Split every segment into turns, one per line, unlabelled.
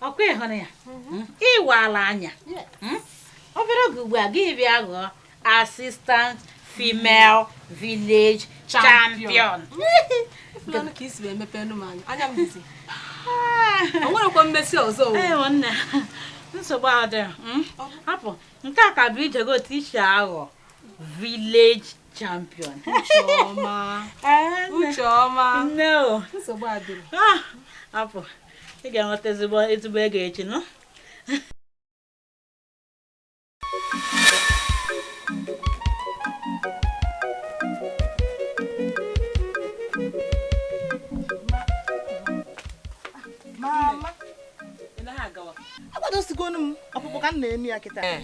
ọ kwa ị hụrụ ya mhm. ị wala anya hmm? obere oge ugbu a gị bịa ghọọ assistant female village champion o nwerekwa mmesi ọzọ nsogbu adịghị hmm? hapụ nke a ka bụ ijego ticha aghọ village champion ucheọma nne o nsogbu adịghị ah, hapụ ị ga-enweta ezigbo ezigbo ego echi nọ agwadosigo m ọkpụkpụ ka m na-eme ya kịta eh.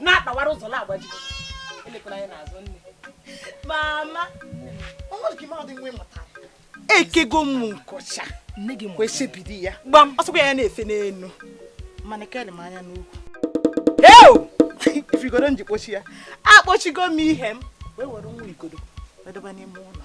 na-akpawara ụzọ na-agbaji elekwana ya n'azụ nne mama ekego m nkọcha kwesịbidi ya gbam ọsọkwa ya na-efe n'elu mana kere m anya n'ukwu eu igodo m ji kpọchi ya akpọchigo m ihe m wee were nwa igodo wedebe n'ime ụlọ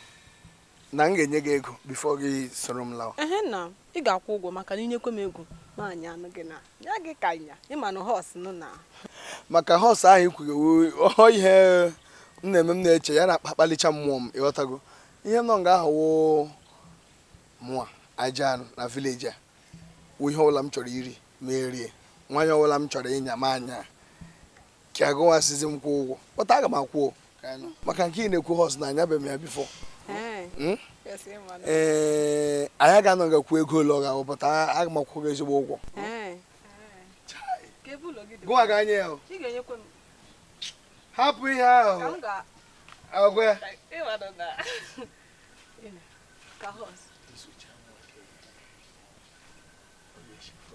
na m ga-enye gị ego before gị soro m lawa ehe na ị ga-akwụ ụgwọ maka na i nyekwe m ego nwaanyị anụ gị na ya gị ka ịnya ịma na horse nụ na maka horse ahụ i kwughị ọ ihe na-eme m na-eche ya na-akpakpalicha mmụọ m ị ghọtago ihe nọ nga ahụ wụ mụwa ajọ anụ na village a wụ ihe ọbụla m chọrọ iri m erie nwaanyị ọbụla m chọrọ ịnya m anya ka gụwa sịzị m kwụọ ụgwọ but aga m akwụ maka nke ị na-ekwu horse na anyabe m ya before hmm? ee anyị ga-anọ nga kwuo ego ole ọ ga-awụ but aga m akwụkwa gị ezigbo ụgwọ gụwa ga-anya ya hapụ ihe ahụ agwa ya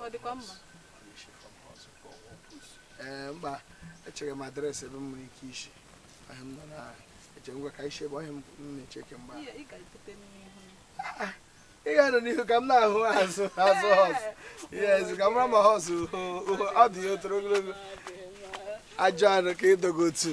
ọ dịkwa mma ee eh, mba echere m address ebe m nwere ike isi ahụ m nọ na-eche ngwa ka isi ebe ọhịa m na-eche kemgbe ị ga-anọ n'ihu ka m na-ahụ azụ azụ horse yes ka m mara ma horse ọdụ ya o toro ogologo ajọ anụ ka ịdogo otu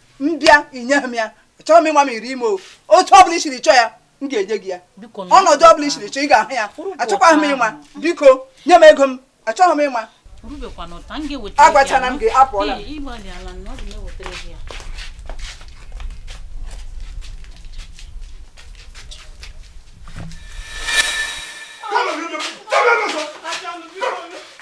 mbịa inyeghị m ya achọghị m ịma m iri ime otu ọ bụla i siri chọọ ya m ga-enye gị ya ọnọdụ ọ bụla i siri chọọ ị ga-ahụ ya achọkwaghị m ịma biko nye m ego m achọghị m ịma agwachana m gị apụọla Come on,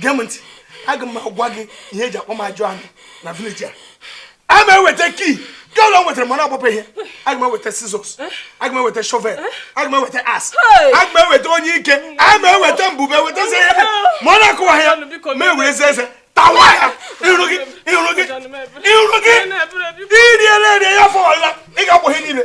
gee m ntị aga m agwa gị ihe eji akpọ m ajọ anụ na village a a ma eweta key nke ụlọ m nwetara mana ọgbapụ ihe aga m eweta scissors aga m eweta shovel aga m eweta axe aga m eweta onyike a ma eweta mbube eweta zi ihe ma ọ na-akụwa ya ma ewere eze eze tawa ya iru gị iru gị iru gị iriela erie ya fọwala ị ga-akpọ ihe niile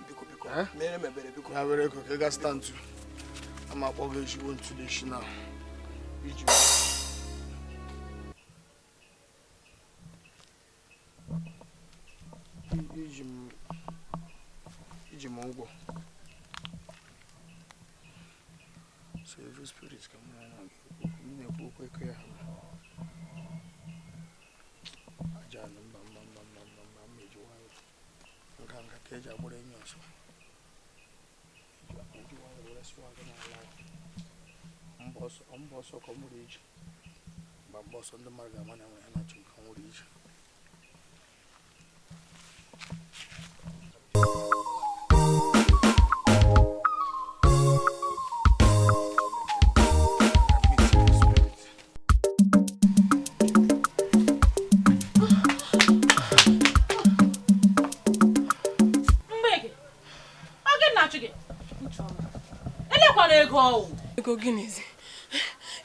biko biko eh? mere m ebere biko ya were ego ka ị ga zụta ntu ama akpọ gị ezigbo ntu n'isi na iji iji m ụgwọ so evil spirit ka m na-ekwu okwu eke ya nganga ka eji agbara enyi ọsọ mgba ọsọ ka ọ mụrụ iji mgba mgba ọsọ ndị mmadụ ga-ama na enwe ya na-achụ nke nwụrụ iji ego gịnịzi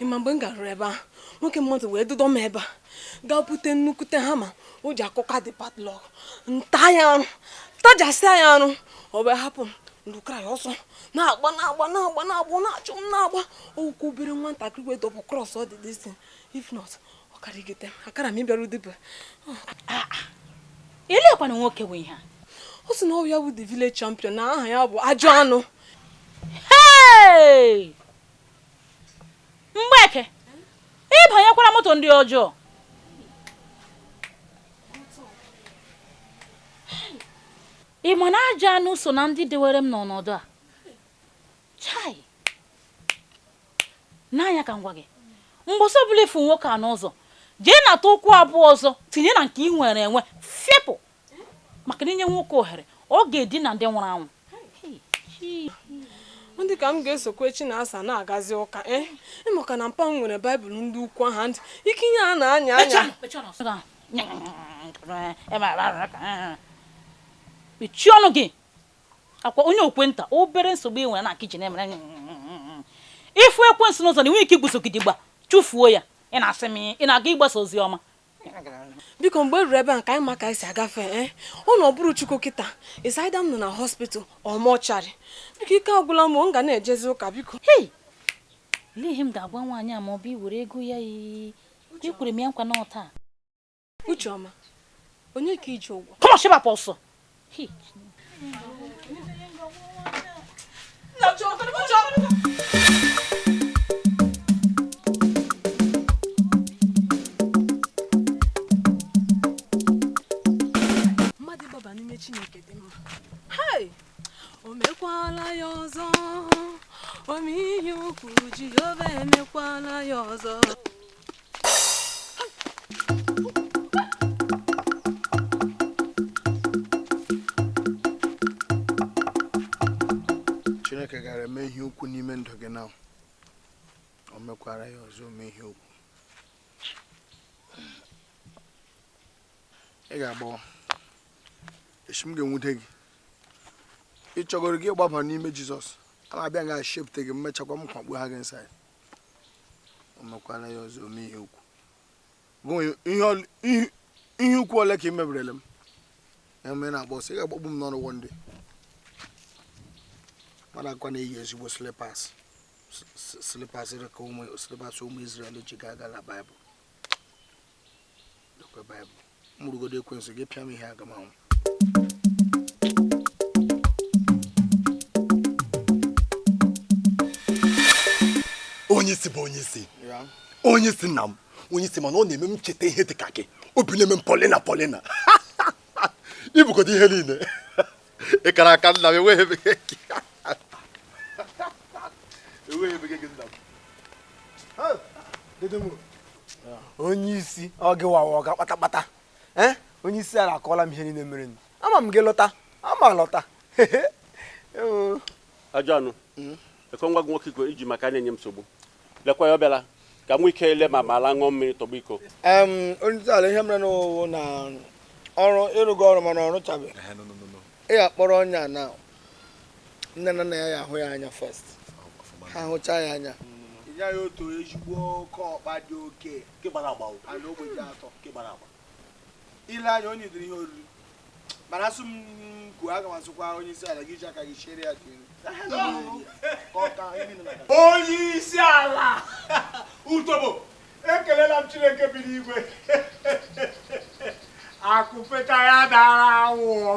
ịma mgbe m garuru ebe ahụ nwoke mmadụ wee dụdo m ebe a gaa bute nnukwute hammer o ji akụka the padlock m ta ya arụ tajasịa ya arụ ọ wee hapụ m lukara ya ọsọ na-agba na-agba na-agba na-agba na-achụ m na-agba ụkwụ obere nwatakịrị wee double cross ọ dị dịsị if not ọ karịgide akara m ịbịaru dibịa ah, ah. lekwanụ nwoke bụ ihe ọ sị na ọ wụ ya bụ the village champion na aha ya bụ ajọ anụ mgbeke ịbanyekwara moto ndị ọjọọ Ị ma na ajọ anụ so na ndị dewere m n'ọnọdụ a? Chai! N'anya ka m gwa gị, mgbọsị ọbụla ịfụ nwoke a n'ụzọ, jee nata ụkwụ abụọ ọzọ tinye na nke ị nwere enwe fepụ maka na inye nwoke ohere ọ ga-edina ndị nwụrụ anwụ dị ka m ga-esokwa echi na asa na-agazi ụka eh? ị makwa na mpa m nwere baịbụl ndị ukwu ahụ ndị ike ihe a na-anya anya mechie ọnụ gị akwa onye okwe nta obere nsogbu ị nwere na kichin emere ịfụ ekwensu n'ụzọ na ị nweghị ike igbuso gidigba chụfuo ya ị na-asị m ị na-aga ịgbasa ozi ọma biko mgbe e ruru ebe a ka anyị ma ka anyị si agafe ee eh? ọ na ọ bụrụ chukwu kịta ịsaida m nọ na hospital or mortuary biko ike agwụla m m ga na-ejezi ụka biko ihe m ga-agwa nwaanyị a ma ọ bụ iwere ego ya yi Uche kwere m ya nkwa na ọta. Uche ọma. Onye ka i ji ụgwọ? Kọmọ sheba pa ọsọ. Hi. Uche ọma. o mekwala ya ọzọ ome ihe ukwu jehova emekwala ya ọzọ chineke gara eme ihe ukwu n'ime ndụ gị na o mekwara ya ọzọ ome ihe ukwu ị ga-agbawa echi m ga-enwute gị ị chọgoro gị gbaba n'ime jizọs a na-abịa ga shepụta gị m mechakwa m kwakpu ha gị inside o mekwala ya ọzọ ome ihe ukwu Gụnwe- ihe ol- ihe- ihe ukwu ole ka i meberele m ya mere na-agba ọsọ ị ga-agbagbu m n'ọrụ o ndị mmadụ kwa na-eyi ezigbo slipas slipas ka ụmụ slipas ụmụ Izrel ji gaa agha na baịbụl m bụrụgodo ekwensu gị pịa m ihe aga m anwụ onye isi bụ onye isi onye isi nna m onye isi mana ọ na-eme m cheta ihe dị ka gị obi na-eme m polina polina i bukọta ihe niile ị kara aka nna m enweghị ebe gị enweghị ebe gị nna m onye isi ọga wawa ọga kpatakpata eh? onye isi ala akọọla m ihe niile mere m ama m gị lọta ama lọta ajọ anụ hmm? ekwe nwa gị nwoke iko iji maka na-enye m nsogbu Lekwa ya ọ bịala ka m nwee ike ile ma ma ala ṅụọ mmiri tọgbọ iko. Em, onye isi ala ihe mere nụ wụ na ọrụ ị rụgo ọrụ mana ọ rụchabeghị Ehe, no, no, no, no. ị ga-akpọrọ onye a na nne na nna ya ya ahụ ya anya first Ọfụma. ha hụchaa ya anya ya ya otu ezigbo oke ọkpa dị oke Nke gbara agba o. na ogbe ji atọ Nke gbara agba. i le anya onye dịrị ihe oriri mana a sị m kwuo a ga-asịkwa onye isi ala gị ji aka gị chere ya dị onye isi ala utobo ekelela m chineke bi n'igwe akụfeta ya dara awụọ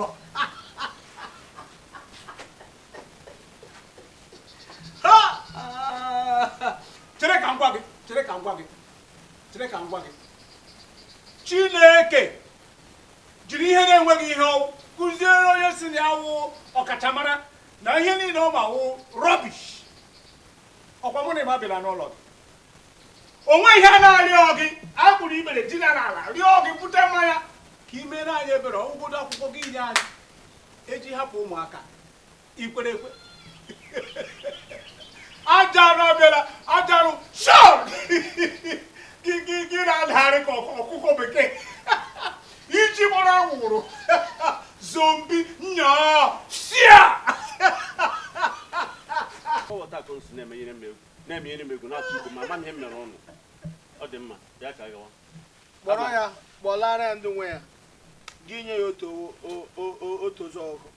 chere ka m gwa gị chere ka m gwa gị chere ka m gwa gị chineke jiri ihe na-enweghị ihe ọ wụ kụziere onye sị na ya wụ ọkachamara na ihe niile ọ ma wụ rubbish ọ kwa mụ na emma bịara n'ụlọ gị o nwe ihe a na-arịọ gị e gburu ikpere dina n'ala rịọ gị bute mmanya ka i mere anyị ebere ọ wụgodu akwụkwọ gị nye anyị e ji hapụ ụmụaka i kwere ekwe ajarụ abịara ajarụ shop gị gị gị na-adagharị ka ọkụkọ bekee e ji gbara anwụrụ zombie nyaa sia ọwọta ka o si na-emenyere m egwu na-emenyere m egwu na-atụ igbo ma ama m ihe m mere ọnụ ọ dị mma bịa ka gawa kpọrọ ya kpọlara ya ndị nwe ya gị nye ya otu otu ụzọ ọkụ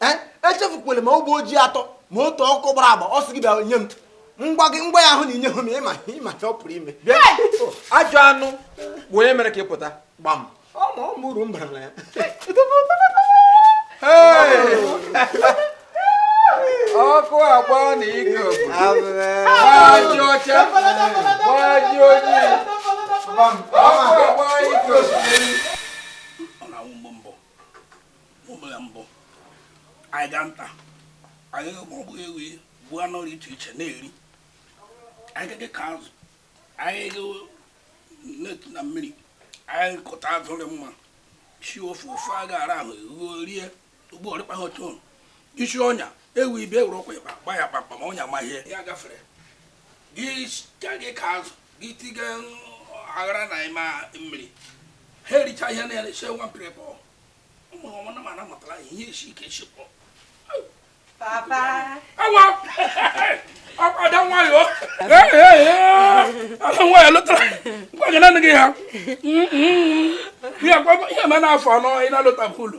ee echefukwala ma ogbe ọjị atọ ma otu ọkụ gbara agba ọ sị gị bịa nye m ngwa gị ngwa ya ahụ na i nye hụ m ịma ịma ihe ọ pụrụ ime bịa ajọ anụ bụ onye mere ka ị pụta gbam ọ ma ọ mụrụ mbara na ya ọkụ agba na ike gbaji ọcha gbaji ojii ọkụ agba ike osimiri ụbụla mbụ anyị gaa nta anyị maọbụ ewe gbuo anụ dị iche iche na-eri anyị dị ka azụ anyị na-etu na mmiri anyị kụta azụ dị mma sie ofe ofe a ga-ara ahụ eruo rie ugbo ọrịkpa ha otu isi ọnya ewu ibe ewere ọkwa ịkpa gba ya kpakpa ma ọnya ma ihe ya gafere gị ka gị ka azụ gị tiga aghara na ịma mmiri ha ericha ihe na ere nwa mpere pọ ụmụ ọma na mana matara ihe esi ike esi pọ papa awa ada nwayọ ada nwayọ lụtara ngwa gị nanị gị ha ihe ma na-afọ anọ ị na-alụta bụ ụlọ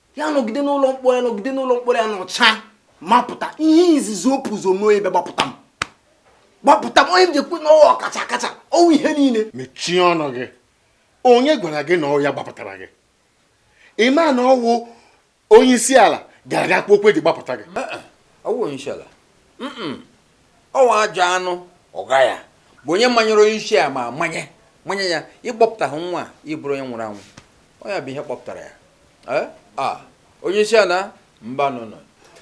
ya nọgide n'ụlọ mkpọrọ ya nọgide n'ụlọ mkpọrọ ya nọchaa ma pụta ihe izizi opụzo mee ebe gbapụta m gbapụta m onye m ji ekwu na ọ wụ ọkacha akacha ọ wụ ihe niile mechie ọnụ gị onye gwara gị na ọ ya gbapụtara gị ị ma na ọ wụ onye isi ala gara ga kpọọ oku e ji gbapụta gị ọ wụ onye isi ala ọ nwa ajọ anụ ọga ya bụ onye manyere onye isi a ma manye manye ya ịkpọpụta gị nwa ị bụrụ onye nwụrụ anwụ ọ ya bụ ihe kpọpụtara ya eh? ah, onye isi ala mbanụnụ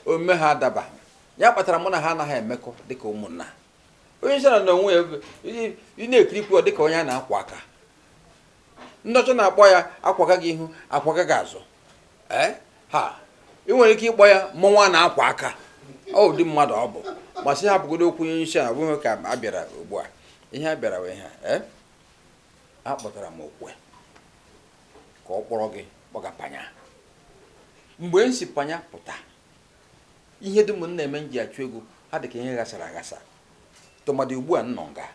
omume ha adaba ya kpatara mụ na ha anaghị emekọ dịka ụmụnna onye isi ala na onwe ya ị na-ekirikwa dịka onye a na-akwa aka ndị ọcha na-akpọ ya akwa aka ga ihu akwa aka ga azụ ee eh? ha ị nwere ike ịkpọ ya mmọnwụ a na-akwa aka ọ ụdị mmadụ ọ bụ ma sị hapụgodu okwu onye isi abụghị ka a bịara ugbu a ihe a bịara wee ha ee eh? akpọtara m okwe ka ọ kpọrọ gị kpọga panya mgbe m si panya pụta ihe dum m na-eme m ji achụ ego ha dị ka ihe ghasara aghasa tụmadị ugbu a m nọ nga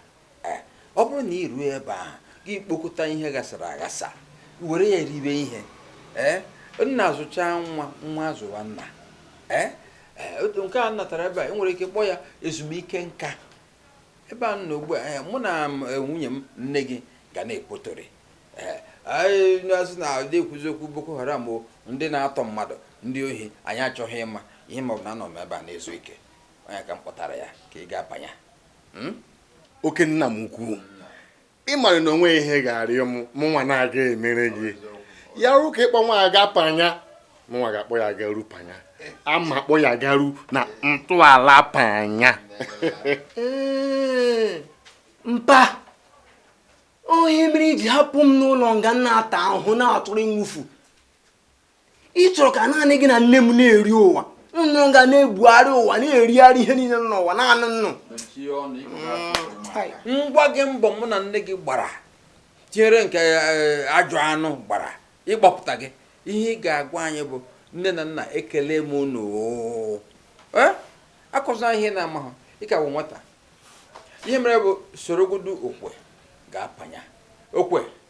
Ee, ọ bụrụ na i ruo ebe ahụ, gị kpokọta ihe ghasara aghasa, were ya ribe ihe. Ee, nna zụchaa nwa, nwa azụwa nna. Ee, ee, otu nke a m natara ebe a, e nwere ike kpọọ ya ezumike nka. Ebe a m nọ ugbu a, ee, mụ na m, e, nwunye m, nne gị, ga na-ekpotori. Ee, anyị na-asị na ndị ekwuzi okwu Boko Haram o, ndị na-atọ mmadụ, ndị ohi, anyị achọghị ịma ihe m ma bụ na anọ m ebe a na-ezu ike. Ọ ya ka m kpọtara ya ka ị gaa Panya. hmm? oke nna m ukwu ị mara na o nweghị ihe ị ga-arịọ m mụ nwa na-aga emere gị ya ruo ka ịkpọ nwa a ga panya mụ nwa ga-akpọ ya garu panya ama akpọ ya garu na ntọala panya mpa ọ ihe mere i ji hapụ m n'ụlọ nga na-ata ahụhụ na-atụrụ nwufu ị chọrọ ka naanị gị na nne m na-eri ụwa unu ga na-ebugharị ụwa na-erigharị ihe niile n'ụwa naanị unu ngwa gị mbọ mụ na nne gị gbara tinyere nke eh, ajọ anụ gbara ịgbapụta gị ihe ị ga-agwa anyị bụ nne na nna ekele m unu eh? akọzina ihe ị na-amaghị ị ka bụ nwata ihe mere bụ sorogodu okwe gaa panya okwe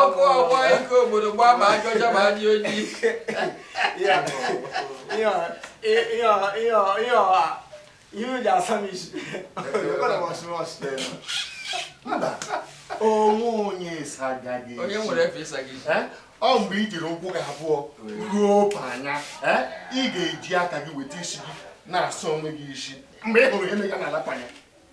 ọkụ ọgba ike obodo gbaa ma ajọ ọcha ma ajọ ojii ihe o ji asa m isi onwe onye ịsa ga gị onye nwere efe ịsa gị isi ọ mgbe i jiri ụkwụ gị abụọ ruo panya ị ga-eji aka gị weta isi gị na-asa onwe gị isi mgbe ị hụrụ ihe mega n'ala panya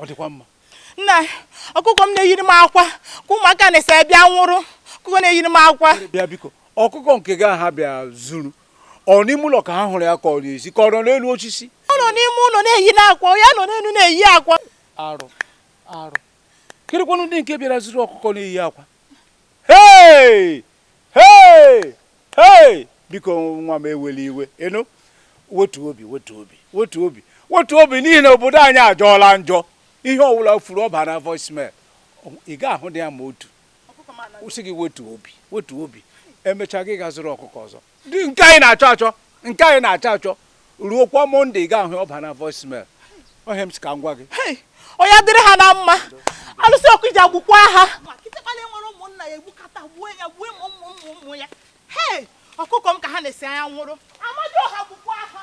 ọ dịkwa mma nne ọkụkọ m na-eyiri m akwa ka ụmụaka na-ese bịa buru ọkụkọ na-eyiri m akwa bịa biko ọkụkọ nke gị a ha bịa zuru ọ n'ime ụlọ ka ha hụrụ ya ka ọ n'ezi ka ọ nọ n'elu osisi ọ nọ n'ime ụlọ na-eyi akwa ya nọ n'elu na-eyi akwa arụ arụ kirikwanụ ndị nke bịara zuru ọkụkọ na-eyi akwa hei hei hei biko nwa m ewela iwe ị nụ wetu obi wetu obi wetu obi wetu obi n'ihi na obodo anyị ajọọla njọ ihe ọwụla furu ọ baa na voicemail ị ga-ahụ dị ya ma otu kwụsị gị wetu obi wetu obi emechaa gị gaa zụrụ ọkụkọ ọzọ dị nke anyị na-achọ achọ nke anyị na-achọ achọ ruokwa monday ị ga-ahụ ọ baa na voicemail ọ ihe m sị ka m gwa gị onye dịrị ha na mma alụsị okija gbukwa ha ọkụkọ m ka ha na-esi anya nwụrụ amadịọha gbukwa ha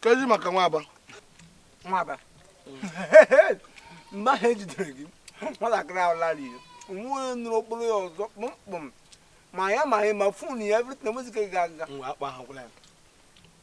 kezi maka nwaba nwaba mgbe ahụ ejidere gị nwatakịrị ahụ lara ihe nwa nụrụ okporo ya ọzọ kpụmkpụm ma ya ma anyị ma phone ya everything nwezike ga aga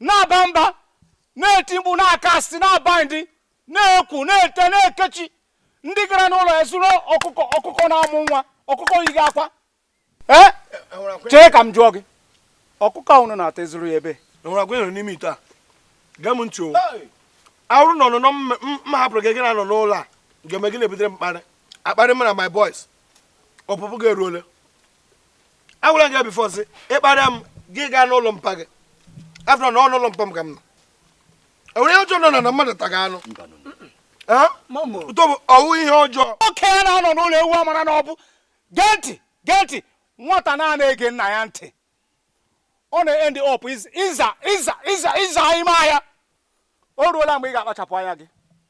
na-aba mba na-eti mkpu na-aka asị na-aba ndị na-ekwu na-ete na-ekechi ndị gara n'ụlọ ya zụrụ ọkụkọ ọkụkọ na-amụ nwa ọkụkọ yiga akwa ee chee ka m jụọ gị ọkụkọ ahụ nọ na-ata ị zụrụ ya ebe enwere agwa ịnọ n'ime ite a gee m ntị ọ wụrụ na ọnụnọ m hapụrụ gị gị na-anọ n'ụlọ a ga-eme gị na-ebutere mkparị akparị mara my boys ọpụpụ gị eruole agwara gị before ị sị ịkparị m gị gaa n'ụlọ mpa gị afọ na ọ n'ụlọ mpa m ka m nọ enwere ihe ọjọọ nọ na mmadụ taga anụ ụtọ bụ ọ wụ ihe ọjọọ okenye anaghị anọ n'ụlọ ewu amara n'ọgbụ gee ntị gee ntị nwata na-anaghị ege nna ya ntị ọ na-end up ịza ịza ịza ịza ime ahịa o ruola mgbe ị ga-akpachapụ anya gị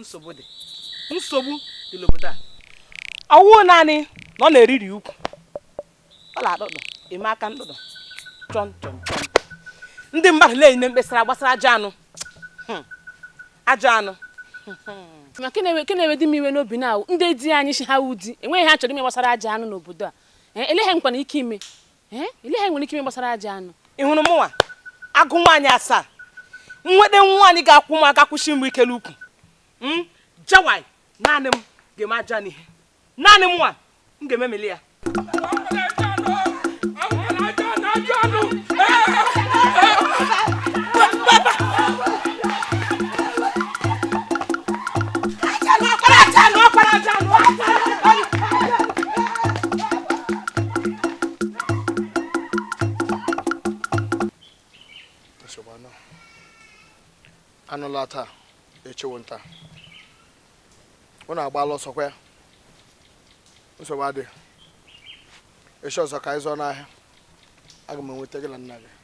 nsogbu dị nsogbu dị n'obodo a ọ wụ naanị na ọ na-eriri ukwu ọ na-adọdọ eme aka ndọdọ chọn chọn chọn ndị mmadụ na-enye mkpesara gbasara ajọ anụ hmm. ajọ anụ hmm. ma nke na-ewedị m iwe n'obi na ndị di anyị sị ha wụ di enweghị ihe ha chọrọ ime gbasara ajọ anụ n'obodo a eh, elee ihe ha nwekwanụ ike ime elee ihe ha nwere ike ime gbasara ajọ anụ ị hụrụ mụnwa agụ nwaanyị asaa nwede nwaanyị ga-akwụ m ga-akwụsi m ike l'ụkwụ hmm? jawai naanị m ga-eme ajọ anụ ihe naanị mụnwa ga-emeli ya anụ laa taa echi wụ nta unu agbala ọsọ ọkwa ya nsogbu adịghị echi ọzọ ka anyị zuo n'ahịa aga m enweta gị na nna gị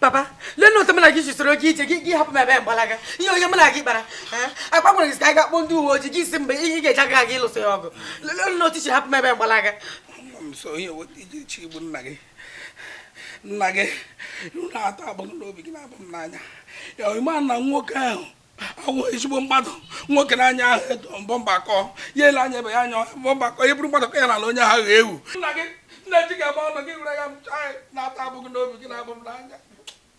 Papa, lenu otu mụ na gị ji soro gị ije gị hapụ m ebe a gbalaga ihe onye mụ na gị kpara akpa gwara gị ka anyị gaa kpọọ ndị uwe ojii gị sị mgbe ihe ị ga-eji aka gị lụso ya ọgụ lenu otu i si hapụ m ebe a gbalaga nso ihe weta iji chi igbu nna gị nna gị na-ata abụ m n'obi gị na-abụ m n'anya ya ị ma na nwoke ahụ awụ ezigbo mmadụ nwoke n'anya ahụ edo mbọ mgbakọ ya ele anya ebe ya anya mbọ mgbakọ ya bụrụ mmadụ ka ya na onye ahụ ga ewu nna gị nna ji ga-agba ọnụ gị were ya na-ata abụ gị n'obi gị na-abụ m n'anya